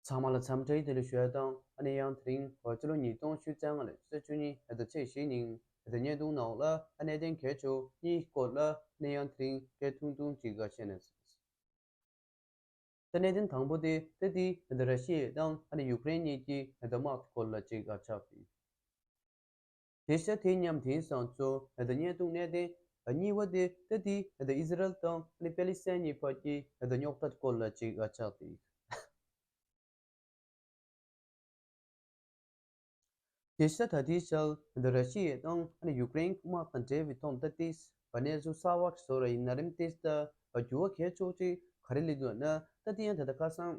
ཚང་མ་ལ་འཚམས་འདྲི་དེ་ལས་ཤོད་དང་ཨ་ནེ་ཡང་དེ་རིང་བོད་ཕྱི་ལོ་ཉིས་སྟོང་བཅུ་རྩ་ལྔ་ལོའི་ཚེས་བཅུ་ཉིན་ད་ལྟ་ཚེས་བཞི་ཉིན་བོད་དོན་བརྙན་ཐུང་ནང་ལ་ཨ་ནེ་བསྟན་མཁས་ཆོས་གཉིས་བཀོད་ལ་ཨ་ནེ་ཡང་དེ་རིང་སྐད་ཐུང་ཐུང་གཅིག་ག་བཤད་ནས་ད་གནད་དོན་དང་པོ་དེ་ད་ལྟའི་ད་ལྟ་ར་ཤི་ཡའི་དང་ཨ་ནེ་ཡུག་རེན་གཉིས་ཀྱི་ད་ལྟ་དམག་དེ་སྐོར་ལ་གཅིག་ག་ཆགས་ཡོད། དེ་ཤ་དེ་མཉམ་དེང་སང་ཚོ་བརྙན་ཐུང་གནས་བརྟན་གཉིས་བ་དེ་ད་ལྟའི་ཨིས་ར་ཨེལ་དང་པེ་ལི་སེན་གཉིས་བར་གྱི་རྙོག་དྲ་སྐོར་ལ་ཅིག་ཆགས་དེ་ཡིན། དེ་ཤ་ད་ལྟའི་ཆར་ར་ཤི་ཡའི་དང་ཡུ་ཀེ་རེན་གི་དམག་དང་འབྲེལ་བའི་ཐོག་ད་ལྟའི་གནས་ཚུལ་གསར་བ་ཞིག་བཟོ་ར་ཡིན་ན་རིམ་དེ་ལྟར་འགྱུར་བ་གལ་ཆོག་ཅིག་ག་རེ་ལས་འདུག་ན་ད་ལྟའི་ཡང་ད་ལྟ་ཁ་སང་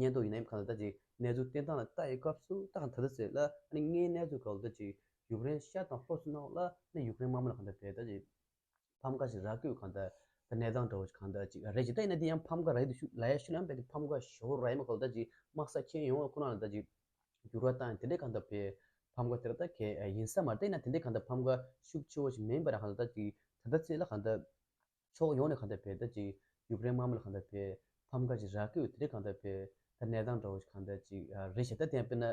ཉན་ཐོག་ཡིན་ནམ་གང་ལྟར་ད་ཅིའི་གནས་ཚུལ་བསྟན་སྟངས་ལ་ལྟ་ཡི་སྐབས་སུ་ད་གང་ད་ལྟ་ཟེར་ལ་ཨ་ནི་ལྔའི་གནས་ཚུལ་གང་ལྟར་ཅིག་ཡུཀ་རེན་ཤར་དང་ལྷོ་སུ་གནང་བ་ལ་ནི་ཡུཀ་རེན་དམར་མོ་ལ་གང་ལྟར་བལ་ད་ཅིག་ཕམ་ཁ་ཞིག་རག་དགོས་གང་ལྟར་ད་གནས་སྟངས་འདྲ་བོ་ཞིག་གང་ལྟར་ཅིག་རེད་ཅིག་ད་ཡིན་ན་དེ་ཡང་ཕམ་ཁ་རག་ཡ་དུ་ཤུགས་ལ་ཡ་ཤུ་ལམ་བལ་དུ་ཕམ་ཁ་ཞོ་བོ་རག་ཡ་མ་གང་ལྟར་ཅིག་དམག་ས་ཁྱེར་ཡོང་བ་ཁོ་ན་ལ་ད་ཅིག་འགྱུར་བ་བཏང་ཡ་དེ་འདྲས་གང་ལྟར་བལ་ཕམ་ཁ་དེ་ར་ད་གས་ཡིན་ས་མ་རེད་ད་ཡིན་ན་དེ་འདྲས་གང་ལྟར་ཕམ་ཁ་ཤུགས་ཆེ་བོ་ཞིག་མིན་པ་ར་གང་ལྟར་ད་ཅིག་ད་ལྟ་ཚེས་ལ་གང་ལྟར། ཕྱོགས་ཡོངས་ནས་གང་འདྲ་བེད་ད་ཅིག་ཡུཀ་རེན་དམར་མོ་ལ་གང་འདྲ་བེད་ཕམ་ཁ་ཅིག་ར་ཀི་ཡུ་ཐི་རེ་གང་འདྲ་བེད་ད་གནས་སྟངས་འདྲ་བོ་ཞིག་གང་འདྲ་ཅིག་རེད་ཞེ་ད་བསྟན་དཔེ་ན་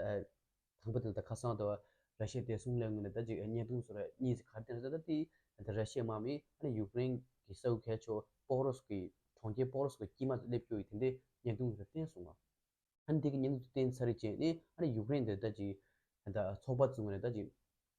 དང་པོ་དེ་ལ་ད་ཁ་སང་ད་བར་ར་ཤི་ཡའི་བདེ་སྲུང་ལས་ངོས་ནས་ད་ཅིག་བརྙན་ཐུང་སོགས་ར་གཉིས་ཟིག་གར་བསྟན་ཟེར་ད་དེ་ད་ར་ཤི་ཡའི་དམག་མི་ཨ་ནི་ཡུཀ་རེན་གི་ས་ཨུ་ཁལ་ཆོ་པོག་རོ་སོགས་ཀི་གྲོང་ཁྱེར་པོག་རོ་སོགས་ཀི་དཀྱིལ་མ་དུ་སླེབས་རྒྱུ་ཡི་དེ་འདྲའི་བརྙན་ཐུང་ཟེར་བསྟན་སོང་ང་ཨ་ནི་དེ་གི་བརྙན་ཐུང་དུ་བསྟན་ཚར་རིག་བཅས་ནི་ཨ་ནི་ཡུཀ་རེན་དེ་ད་ཅིག་ད་ཚོགས་པ་ཚུ་ངོས་ནས་ད་ཅིག་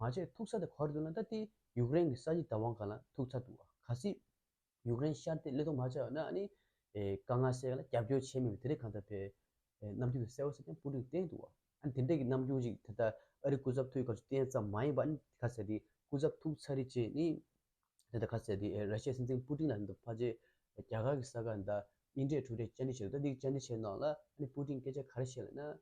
མ་བྱས་ཐུག་ས་དེ་ག་རེ་འདུག་ན་ད་ལྟའི་ཡུཀ་རེན་གྱི་ས་གཞི་བདག་དབང་གང་ལ་ཐུག་ཚར་འདུག་ག་སྲིད། ཡུཀ་རེན་ཤར་ཏེ་ཀླད་སྟོང་མ་བྱས་པ་ན་ཨ་ནི། དཀའ་ངལ་སེལ་ག་ལ་རྒྱབ་སྐྱོར་བྱས་མེད་པའི་དེ་རིགས་གང་ལྟར་བས། རྣམ་འགྱུར་དེ་གསལ་བོ་གསལ་རྐྱང་སྤུ་གྲི་གིས་བསྟན་འདུག་ཨ་ནི་དེ་འདྲ་གི་རྣམ་འགྱུར་ཅིག་དེ་ལྟར་ཨ་རིའི་སྐུ་ཚབ་ཐུག་ཡོད་ག་ཚོད་བསྟན་ཙམ་མ་ཡིན་པ་ཨ་ནི་ག་ཚད་དེ་སྐུ་ཚབ་ཐུག་ཚར་རི་ཅེས་ནི། དེ་ལྟར་ག་ཚད་དེ་ར་ཤའི་སྲིད་འཛིན་སྤུ་ཏིང་ལ་འདི་ཕར་རྗེས་རྒྱ་གར་གྱི་ས་ག་ནི་ད་དབྱིན་ཁྲའི་གྲུ་ཁྲའི་བཅར་འདྲི་བྱས་འདུག་ད་འདིའི་བཅར་འདྲི་བྱས་ནང་ལ་ཨ་ནི་སྤུ་ཏིང་སྐད་ཆ་ག་རེ་བཤད་ལ་ན།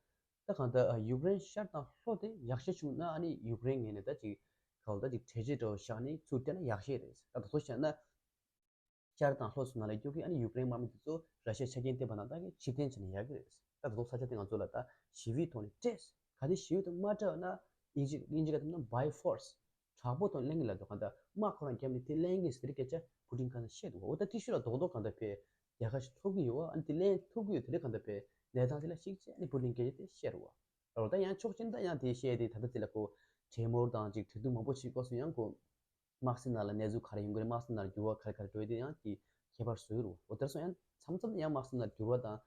ད་གང་ལྟར་ཡུཀ་རེན་ཤར་དང་ལྷོ་དེ་ཡག་ཤས་བྱུང་ན་ཨ་ནི་ཡུཀ་རེན་ངེས་ནས་ད་ཅིག་ག་ལ་ད་ཅིག་གྲལ་བྱེད་འདྲ་བོ་བཞག་ནས་ཚུར་བལྟས་ན་ཡག་ཤས་རེད་ད་ད་གཟོད་བཤད་ན། ཤར་དང་ལྷོ་སུ་ང་ལ་སྐྱོ་གི་ཨ་ནི་ཡུཀ་རེན་དམར་མོ་དེ་ཚོ་ར་ཤའི་ཆ་རྐྱེན་བསྟན་པ་ན་ད་གི་ཕྱིར་འཐེན་བྱས་ན་ཡག་གི་རེད་ད་ད་གཟོད་ས་ཆ་དེ་ང་ཚོ་ལ་ད་ཞི་བའི་ཐོག་ནས་སྤྲད། ག་དེ་ཞི་བའི་ཐོག་མ་སྤྲད་པ་ན་དབྱིན་ཇི་དབྱིན་ཇི་ཀ་དེ་ན་བའི་ཧྥོར། དྲག་པོ་དང་གླེང་གི་ལབ་དུ་གང་ལྟར་དམག་ཁོ་རང་རྒྱབ་ནས་དེ་གླེང་གི་ཟེར་སྐད་ཆ་ཕུ་ཏིང་ག་ན་བཤད་འདུག་བ་འོ་ད་ཏི་ཤུ་ལ་རྡོག་རྡོག་གང་ལྟར་བེད་རྒྱལ་ཁ་ཞིག་འཚོགས་ཀྱི་ཡོད་ཨ་འདི་ལས་ཐུགས་ཁུར་དེ་ལས་གང་ཐུབ་པའི་གནས་སྟངས་དེ་ལ་ཞིག་བྱས་ནས་བུ་ལིང་གེ་ཡོད་དེ་བཤད་རོགས། རོགས་ད་ཡང་ཆོག་སྤྱིར་ད་ཡང་དེ་བཤད་དེ་ད་ལྟ་དེ་ལ་གོ། བྲེལ་མོར་དང་ཅིག་དུས་ཐུང་མང་པོ་ཞིག་བཀག་སོང་ཡང་གོ། དམག་སེར་ནང་ལ་གནས་ཚུལ་ག་རེ་ཡོང་གི་རེད་དམག་སེར་ནར་འགྱུར་བ་ག་རེ་ག་རེ་འགྲོ་ཡི་དེ་ཡང་གི་ཁྱད་པར་བཟོ་གི་རོགས་འོ་དེར་སོང་ཡང་མཚམས་མཚམས་ཡང་དམག་སེར་ནར་འགྱུར་བ་དང།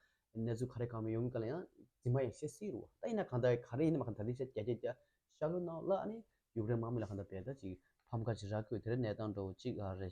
གནས་ཚུལ་ག་རེ་གང་མི་ཡོང་གི་ག་ལ་ཡང་རྫི་མ་ཡང་བཤད་སྲིད་རོགས་ད་ཡིན་ན་གང་ད་ག་རེ་ཡིན་ན་མ་ག་ད་དེ་བཤད་རྒྱ་རྒྱ་རྒྱ་ཤག་ལོ་གནང་ལ་ཨ་ནི་ཡུག་རེན་དམག་མི་ལ་གང་ད་བས་ད་ཅིག་ཕམ་ཁ་ཅིག་རག་གི་ཡོད་དེ་རེད་གནས་སྟངས་འདྲ་བོ་ཅིག་ག་རེ།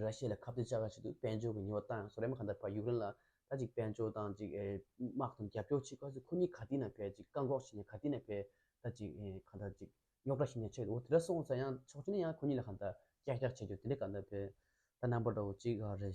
ར་ཤི་ཡ་ལ་ཁ་བརྡའི་བཅའ་ཁ་བྱས་འདུག་དཔལ་འབྱོར་གྱི་ཉེས་བ་བཏང་ཡང་སོག་རན་པ་གང་ལྟར་བར་ཡུཀ་རེན་ལ་ད་ཅིག་དཔལ་འབྱོར་དང་ཅིག་དམག་དང་རྒྱབ་སྐྱོར་བྱེད་སྐབས་སུ་ཁོ་གཉིས་ག་དུས་ན་བས་ཅིག་བཀག་འགོག་བྱས་ནས་ག་དུས་ན་བས་ད་ཅིག་གང་ལྟར་ཅིག་རྙོག་དྲ་ཞིག་ནས་ཆེད་དུ་དེ་འདྲ་སོང་ཚ་ཡང་ཆོག་ཅི་ནས་ཡང་ཁོ་གཉིས་ལ་གང་ལྟར་ཀྱག་ཀྱག་བྱེད་རྒྱུ་དེ་འདྲ་ག་ལྟར་བས་ད་རྣམ་པ་འདྲ་བོ་ཅིག་རེད།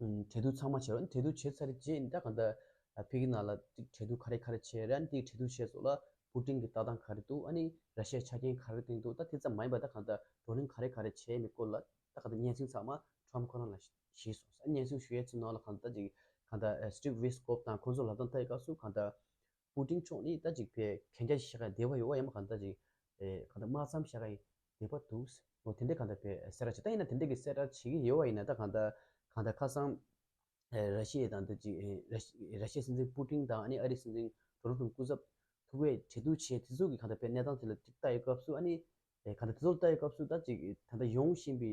གྲལ་བསྡུ་ཚང་མ་བྱས་རོགས་གྲལ་བསྡུ་བྱས་ཚར་རྗེས་ནི་ད་གང་ད། ཕི་གི་ནང་ལ་ཅིག་གྲལ་བསྡུ་ག་རེ་ག་རེ་བྱས་རན་ཏིག་གྲལ་བསྡུ་བྱས་སོགས་ལ་པུ་ཀྲིང་གི་ལྟ་སྟངས་ག་རེ་འདུག་ཨ་ནི་ར་ཤའི་ཆ་རྐྱེན་ག་རེ་བཏིང་འདུག་ད་དེ་ཙམ་མ་ཡིན་པ་ད་གང་ད་བགྲོ་གླེང་ག་རེ་ག་རེ་བྱས་མེད་སྐོར་ལ་ད་གང་ད་སྙན་སེང་ཚང་མ Trump ཁོ་རང་ལ་ཞིག་སོང་ཟེར་སྙན་སེང་ཞུ་ཡས་ཚུལ་ནང་ལ་གང་ད་ཅིག་གང་ད Steve Witkoff དང་ཁོང་ཚོ་ལ་དང་ཐད་ཀ་སུ་གང་ད། པུ་ཏིང་མཆོག་ནི་ད་ཅིག་པའི་གན་རྒྱ་ཞིག་ཤ་ཀ་འདེབས་པ་ཡོད་ཨ་ཡམ་གང་ད་ཅིག་གང་ད་མ་ཚམ་ཤ་ཀ་འདེབས་པ་འདུག་ཨོ་དེ་འདྲས་གང་ད་པའི་སེར་ར་བྱེད་ད་ཡིན་ན་དེ་འདྲས་ཀྱི་སེར་ར་བྱེད་ཀྱི་ཡོད་བ་ཡིན་ན་ད་གང་ད་གང་ད་ཁ་སང་ར་ཤི་ཡའི་དང་ད་ཅིག་ར་ཤི་ཡའི་སྲིད་འཛིན་པུ་ཏིང་དང་ཨ་ནི་ཨ་རིའི་སྲིད་འཛིན་ཏོ་རོ་ཏུང་སྐུ་ཚབ་ཐུག་བས་འཕྲད་བསྡུར་བྱས་དེ་ཚོ་གི་གང་ད་པའི་གནས་སྟངས་དེ་ལ་ཅིག་ལྟ་ཡོད་སྐབས་སུ་ཨ་ནི་གང་ད་དེ་ཚོ་ལ་ལྟ་ཡོད་སྐབས་སུ་ད་ཅིག་ད་ད་ཡོང་བཞིན་པའི་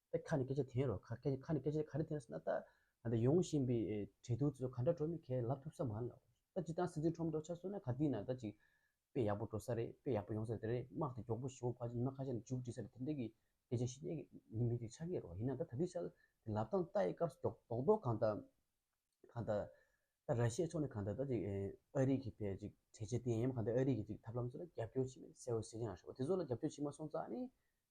ད་ཁ་ནས་སྐད་ཆ་འཐེན་རོགས་ཁ་ཁ་ཁ་ནས་སྐད་ཆ་ག་རེ་འཐེན་སོང་ན་ད་ད་ད་ཡོང་བཞིན་པའི་བྲེལ་གདུག་ཚོ་ག་འདྲ་འགྲོ་མིན་ཁས་ལབ་ཐུབ་ས་མ་རེད་ལགས་ད་ཅི་སྟངས་སྲིད་འཛིན་ཁྲོམ་འགྲོ་ཆ་སོང་ན་ག་དུས་ན་ད་ཅིག་དཔེ་ཡག་པོ་འགྲོ་ས་རེད་དཔེ་ཡག་པོ་ཡོང་ས་རེད་དེ་རེད་དམག་དེ་མགྱོགས་པོ་ཞུ་བ་ཉི་མ་ཁ་ཤས་ནས་འཇུག་བྲིས་ས་རེད་དེ་འདྲ་གི་སྐད་ཆ་ཤི་ནའི་ཉིན་མི་དེ་ཆ་ཁས་རོགས་ཡིན་ན་ད་ད་དུས་ཆ་དེ་ལབ་སྟངས་ད་ཡི་སྐབས་སུ་མགྱོགས་མདོག་མདོག་གང་ད་གང་ད་ད་ར་ཤི་ཡའི་ཕྱོགས་ནས་གང་ད་ད་ཅིག་ཨ་རིག་གི་ཕེ་ཅིག་བྲེལ་བྱེད་བསྟེན་ཡ་མ་གང་ད་ཨ་རིག་གི་ཅིག་ཐབས་ལམ་ཚོ་ལ་རྒྱབ་སྐྱོར་བྱེད་མིན་གསལ་བོ་གཟིགས་ཡང་ཤོག་དེ་ཚོ་ལ་རྒྱབ་སྐྱོར་བྱེད་མ་སོང་ཙང་ནི་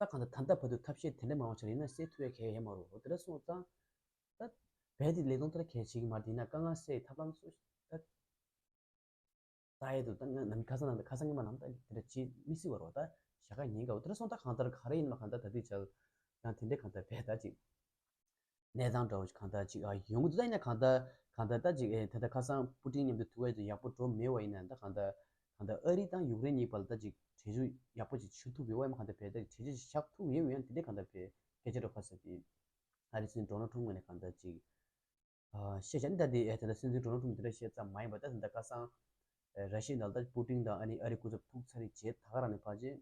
ད་གང་ལྟར་ད་ལྟ་བར་དུ་ཐབས་ཤེས་དེ་འདྲ་མང་བ་བྱ་རྒྱུ་ཡིན་ན་སེ་ཐུ་བས་གལ་ཡ་མ་རུ་འོ་དེ་འདྲ་སོང་ཙང། ད། བས་དེ་ལས་ལོང་ཐར་གལ་བྱེད་ཀྱི་མ་རེད་ཡིན་ན་དཀའ་ངལ་སེལ་ཡི་ཐབས་ལམ་སོ། ད། ད་ཡས་དུ་ད་ང་ནམ་ཁ་སང་ནང་ད་ཁ་སང་སྔོན་མ་ནང་ད་དེ་འདྲ་བྱེད་མི་སྲིད་བ་རོ་ད། ཞག་ཁ་ཉིན་འགའ་འོ་དེ་འདྲ་སོང་ད་གང་ལྟར་ག་རེ་ཡིན་ནམ་གང་ད་ད་དུས་བྱ། ཡང་དེ་འདྲས་གང་ལྟར་བས་ད་ཅིག། གནས་སྟངས་འདྲ་བོ་གང་ལྟར་ཅིག་ཨ་ཡོང་གི་འདུག་ད་ཡིན་ན་གང་ལྟར་གང་ལྟར་ད་ཅིག་ཨེ་ད་ལྟ་ཁ་སང་པུ་ཏིང་མཉམ་དུ་ཐུག་ཨེ་ཡག་པོ་འགྲོ་མེད་བ་ཡིན་ན་ད་གང་ལྟར་གང་ལྟར་ཨ་རི་དང་ཡུཀ་རེན་གཉིས་བར་ལ་ད་ཅིག་གྲོས་ཆོད་ཡག་པོ་ཅིག་ཆུད་ཐུབ་ཡོང་བ་ཡིན་པ་གང་ལྟར་བས་ད་ཅིག་གྲོས་ཆོད་ཞིག་བཞག་ཐུབ་ཡོང་ཡང་དེ་འདྲས་གང་ལྟར་བས་སྐད་ཆ་འགྲོ་ཁ་ཟེར་དུས་ཨ་རི་སྲིད་འཛིན Donald Trump ངོས་ནས་གང་ལྟར་ཅིག་བཤད་བྱ་ནི་ད་དེ་ཨེ་ད་ལྟ་སྲིད་འཛིན Donald Trump དེ་འདྲ་བཤད་ཙམ་མ་ཡིན་པར་ད་དེ་ད་ཁ་སང་ར་ཤི་ཡའི་ནང་ལ་ད་ཅིག་པུ་ཏིང་དང་ཨ་རི་སྐུ་ཚབ་ཐུག་ཚར་རེད་བྱས་ད་ག་རང་ནས་ཕར་ཕྱིན།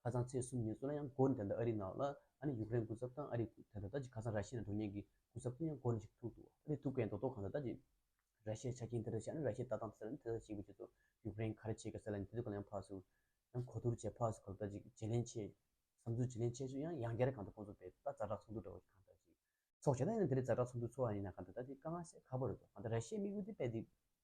ཁ་སང་ཚེས་གསུམ་ཉིན་སུ་ལ་ཡང་གོ་ནས་དེ་འདྲ་ཨ་རིའི་ནང་ལ་ཨ་ནི་ཡུག་རེན་སྐུ་ཚབ་དང་ཨ་རིའི་དེ་འདྲ་དག་ཅིག་ཁ་སང་ར་ཤི་ཡའི་ནང་འགྲོ་ཉེན་གྱི་སྐུ་ཚབ་ཚོ་ཡང་གོ་ནས་ཞིག་ཐུག་འདུག་ཨ་རིའི་ཐུག་མཁན་རྡོག་རྡོག་གང་འདྲ་དག་ཅིག་ར་ཤི་ཡའི་ཆ་རྐྱེན་དེ་འདྲ་ཞིག་ཨ་ནི་ར་ཤི་ཡའི་ལྟ་སྟངས་དེ་འདྲ་ནི་དེ་འདྲ་ཞིག་ཡིན་པའི་ཆེད་དུ་ཡུག་རེན་ག་རེ་བྱེད་དགོས་ཟེར་ལ་ནི་དེ་ཚོ་གང་ཡང་ཕག་སུ་ཡང་གོ་བསྡུར་བྱས་ཕག་སུ་གང་དག་ཅིག་བྱེད་ལན་ཆེད་བསམ་ཚུལ་བྱེད་ལན་ཆེད་སུ་ཡང་ཡང་བསྐྱར་གང་དུ་ཁོང་ཚོ་བས་ད་རྫ་དྲག་ཚོགས་འདུ་འདྲ་བོ་ཞིག་གང་དག་ཅིག་ཚོགས་བྱས་ད་ཡིན་ན་དེ་རི་རྫ་དྲག་ཚོགས་འདུ་ཚོགས་ཡ་ཡིན་ན་གང་དག་དག་ཅིག་དཀའ་ངལ་སེལ་ཁག་པོ་རེད་འདུག་གང་ལྟར་ར་ཤི་ཡའི་དམིགས་ཡུལ་དེ་དཔལ་འདི་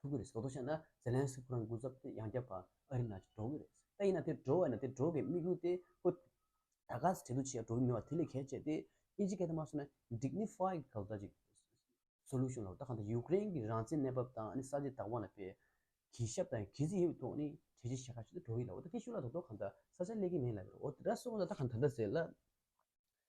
ཐུག་གི་རེད་ཟོ་དོ་ཤེ་ན་ཟེ་ལན་སི་ཁོ་རང་རྒུ་ཚབ་སྟེ་ཡང་རྒྱབ་པ་ཨ་རི་ན་ཅིག་འགྲོ་གི་རེད་ད་ཡིན་ན་དེ་འགྲོ་བས་ན་དེ་འགྲོ་གི་དམིགས་ཡུལ་དེ་ཁོ་ད་ག་ཟེ་བྲེལ་འདུག་ཅི་ཡང་འགྲོ་གི་མི་བ་དེ་ལས་གལ་ཆེ་སྟེ་ཨི་ཇི་གས་ད་མ་སོ་ན Dignify གི་ག་ལ་ད་ཅིག Solution ལ་ད་ག་ད་ཡུ་ཀེ་རེན་གི་རང་བཙན་གནས་བབ་དང་ཨ་ནི་ས་ཆེ་དྭགས་བ་ན་པའི་གི་ཞབས་དང་གི་ཟི་ཡིན་ཐོག་ནི་གྲས་ཆེ་ཞེ་ག་ཞིག་ཏུ་འགྲོ་གི་ལ་བ་ད་དེ་ཤུ་ལ་ད་ད་ག་ད་ས་ཆ་གླེ་གི་མིན་ལ་བས་རོ་ཨོ་ད་ད་སོ་ན་ད་ག་ད་ད་ཟེ་ལ།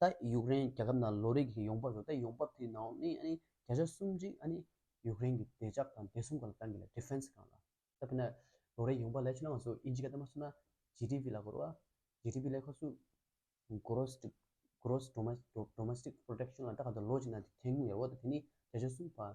ད་ཡུཀ་རེན་རྒྱལ་ཁབ་ནང་ལོ་རེ་བཞིན་ཡོང་འབབ་ཡོད་ད་ཡོང་འབབ་དེའི་ནང་ནས་ཨ་ནི་བརྒྱ་ཆ་སུམ་ཅུ་ཨ་ནི་ཡུཀ་རེན་གྱི་བདེ་འཇགས་དང་བདེ་སྲུང་གང་ལ་བཏང་གི་ལ Defense གང་ལ་ད་པེ་ན་ལོ་རེའི་ཡོང་འབབ་ལས་ཆུ་ནང་ང་ཚོ་ཨིན་ཇི་ག་ད་མ་སུ་ན GDP ལ་གོར་བ GDP ལས་ཁ་སུ Gross Gross Domestic Domestic Production ལ་ད་ག་ད་ལོ་གཅིག་ན་ཐེངས་ཉུང་ཡོད་རེད་བ་ད་དེ་ནི་བརྒྱ་ཆ་སུམ་བ།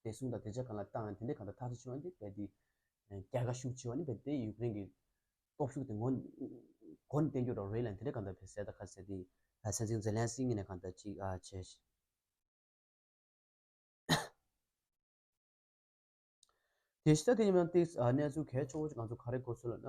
བདེ་སྲུང་དང་བདེ་འཇགས་གང་ལ་བཏང་ཡང་དེ་འདྲའི་གང་དུ་ཐག་གཅོད་བྱེད་ནི་བལྟས་ཏེ། རྒྱལ་ཁ་ཤུགས་ཆེ་བ་ནི་བལྟས་ཏེ་ཡུཀ་རེན་གྱི་སྟོབས་ཤུགས་དེ་ངོ་གོ་ནས་བསྟན་རྒྱུ་རོགས་རེད་ལ་དེ་འདྲའི་གང་དུ་བལྟས་ཟེར་ད་ཁ་ཟེར་ཏེ། སྲིད་འཛིན་ཛེ་ལན་སི་ཀི་ནས་གང་དུ་ཅིག་བྱས། དེ་ཤི་ད་དེ་ཡིན་ན་ཏིག་གནས་ཚུལ་གལ་ཆེ་བོ་ཅིག་ང་ཚོ་ག་རེ་གོ་ཚོད་ལ་ན།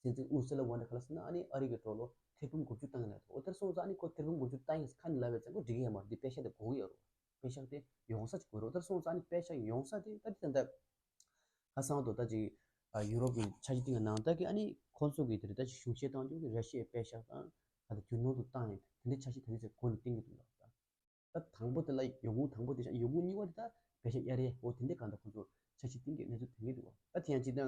སྲིད་འཛིན་ཨུར་སི་ལ་ཝོན་དེ་ཁཱལ་སི་ནཱ་ནི་ཨ་རི་གི་གྲོགས་ལོ་ཐེར་འབུམ་དགུ་བཅུ་བཏང་ཡོད་འོ་ཐེར་སོང་ཙང་ནི་ཁོ་ཐེར་འབུམ་དགུ་བཅུ་བཏང་ཡིན་ཁ་ནི་ལ་བའི་མཚན་གོ་འགྲིག་ཡ་མ་རུ་འདི་དཔེ་ཤག་དེ་དགོངས་ཡོད་རུ་དཔེ་ཤག་དེ་ཡོང་ས་ཅིག་དགོས་རུ་ཨོ་ཐེར་སོང་ཙང་ནི་དཔེ་ཤག་ཡོང་ས་དེ་ད་དེ་ད་ལྟ་ཁ་སང་དུ་ད་ཅིག་ཡུ་རོབ་ཀྱི་ཆ་ཞིག་སྟེང་གི་ནང་ད་གི་ཨ་ནི་ཁོ་ཚོ་གི་དེ་རུ་ད་ཅིག་གཞུང་བཞེས་བཏང་རྒྱུ་གི་ར་ཤི་ཡའི་དཔེ་ཤག་དང་ད་ད་རྒྱུ་ནོར་དུ་བཏང་ཡོད་དེ་འདྲའི་ཆ་ཞིག་ད་དེ་ཚོས་གོ་ནི་གཏན་གྱི་འདུག་ལགས་ད། ད་དང་པོ་དེ་ལ་ཡོང་ཁུངས་དང་པོ་དེ་བཞག་ཡོང་ཁུངས་གཉིས་པ་དེ་དག་བེ་ཤ་གཡའ་རེད་འོ་དེ་འདྲས་གང་དང་ཁོ་ཚོ་ཆ་ཤས་སྟེང་གི་གནས་ཚུལ་དོན་གྱི་འདུག་བ་ད་དེ་ཡང་ཅིག་ད་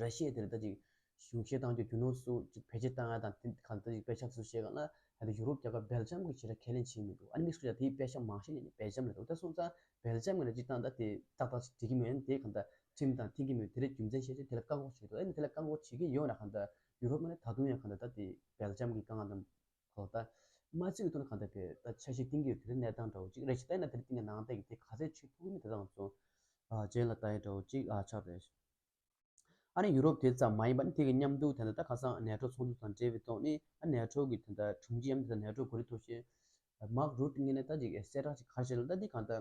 ར་ཤི་ཡའི་དེ་ལ་ད་ཅིག་གཞུང་བཞེས་བཏང་རྒྱུ་རྒྱུ་ནོར་སུ་ཅིག་བེད་སྤྱད་བཏང་ཡ་དང་དེ་གང་ད་ཅིག་པེ་ཤ་སུ་བཞེས་གང་ལ་ད་དེ་ཡུ་རོབ་རྒྱབ་ཁ་བེལ་ཇམ་གི་བྱེད་ར་ཁས་ལེན་བྱེད་མི་འདུག་ཨ་ནི་མིག་སུ་ཡ་དེའི་པེ་ཤ་མང་ཤས་ནི་བེལ་ཇམ་ལ་འདུག་ད་སོང་ཙང་བེལ་ཇམ་གི་ལ་ཅིག་བཏང་ད་དེ་ཏག་ཏག་ཅིག་བྲིས་ཀྱི་མེད་ཨ་ནི་དེས་གང་ད་ཁྲིམས་དང་མཐིང་གི་མོད་དེ་རེད་རྒྱུ་མཚན་བཤད་ཆེད་དེ་ལ་བཀག་འགོག་བྱེད་ཀྱི་འདུག་ཨ་ནི་དེ་ལ་བཀག་འགོག་བྱེད་ཀྱི་ཡོད་ན་གང་ད་ཡུ་རོབ་མ་ནི་ད་དུང་ཡང་གང་ད་ད་དེ་བེལ་ཇམ་གི་དཀའ་ངལ་དང། ཐོག་ད་མ་ཚིག་དོན་གང་དེ་དེ་ད་ཆ་གཞི་གཏིང་གི་དེ་གནས་སྟངས་འདྲ་བོ་ཅིག་རེད་ཞེས་བལྟས་ན་དེ་གཏིང་གི་ནང་བལྟས་ཀྱི་དེ་ག་ཚད་ཆོད་ཐུག་གི་མེད་དེ་དང་མཚུངས། གཞན་ལ་ད་ཡོད་འདྲ་བོ་ཅིག་ཨ་ཆགས་རེད། ཨ་ནི་ཡུ་རོབ་དེ་ཙམ་མ་ཡིན་པ་ནི་དེ་གི་མཉམ་འདུག་དེ་ད་ད་ཁ་སང་ནེ་ཏྲོ་ཚོགས་འདུ་དང་འབྲེལ་བའི་ཐོག་ནས་ཨ་ནེ་ཏྲོ་གི་དེ་ད་དྲུང་ཆེ་ཡང་དེ་ད་ནེ་ཏྲོ་གོ་རེ་ཐུག་ཤེས། མག་རུ་ཏི་ངེད་ནས་ད་ཅིག་གསལ་བསྒྲགས་ཅིག་ག་བྱེད་ལ་ད་འདི་གང་ད་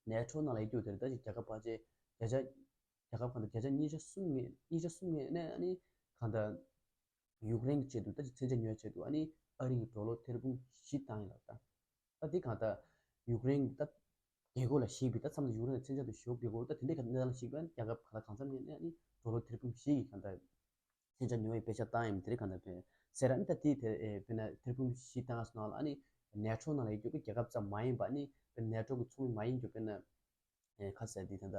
ནེ་ཏྲོ་ནང་ལ་ཡི་རྒྱུག་དེ་རེད་ད་ཅིག་རྒྱ་ཁབ་བར་ཆད་བརྒྱ་ཆ་རྒྱ་ཁབ་གང་ད་བརྒྱ་ཆ་གཉིས་ཆ་གསུམ་ངེས་གཉིས་ཆ་གསུམ་ངེས་ནས་ཨ་ནི་གང་ད། ཡུཀ་རེན་གྱི་ཆེད་དུ་ད་ཅི་ཚན་ཆ་ཉོས་ཆེད་དུ་ཨ་ནི་ཨ་རིའི་གྲོ་ལོ་ཐེར་འབུམ་བཞི་བཏང་ཡོད་ལགས་ད། ད་དེ་གང་ད་ཡུཀ་རེན་གྱི་ད་རྒྱལ་སྒོ་ལ་ཞིག་པའི་ད་འཚམས་ད་ཡུཀ་རེན་ལ་ཚན་ཆ་དུ་ཞོག་གི་སྒོར་ད་དེ་འདྲའི་ག་ནས་ལ་ཞིག་པའི་རྒྱལ་ཁབ་ག་ད་གང་འཚམས་ནས་ཨ་ནི་གྲོ་ལོ་ཐེར་འབུམ་བཞི་གི་གང་ད་ཚན་ཆ་ཉོ་བའི་དཔེ་ཆ་བཏང་ཡོད་མི་དེ་རིགས་གང་ད་ཐོན་ཟེར་ཨ་ནི་ད་དེ་དེར་དཔེར་ན་ཐེར་འབུམ་བཞི་བཏང་ང་སོ་ནང་ལ་ཨ་ནི་ནེ་ཏྲོ་ནང་ལ་ཡོད་རྒྱུ་ཀྱི་རྒྱལ་ཁབ་ཙམ་མ་ཡིན་པ་ཨ་ནི་དཔེར་ན་ནེ་ཏྲོ་གྱི་ཚོགས་མི་མ་ཡིན་རྒྱུ་དཔེར་ན་ཁ་ཟས་དེ་གང་ད།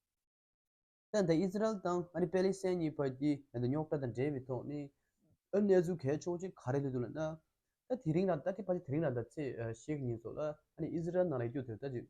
ཐེངས་འདིའི་ཨིས་ར་ཨེལ་དང་ཨ་རིའི་པེ་ལི་སེན་གཉིས་བར་གྱི་ཉེན་དུ་རྙོག་དྲ་དང་འབྲེལ་བའི་ཐོག་ནས་ཨོ་གནས་ཚུལ་གལ་ཆོག་ཅིག་ག་རེ་ལྷུད་འདུག་ལབ་ན། ད་དེ་རིང་ལ་ད་ཐེངས་ཕར་ཆེར་དེ་རིང་ལ་ཟླ་ཚེས་ཞེ་གཉིས་སོགས་ལ་ཨ་ནི་ཨིས་ར་ཨེལ་ནང་ལ་ཡིག་རྒྱུགས་དེ་ལྟར་བྱས།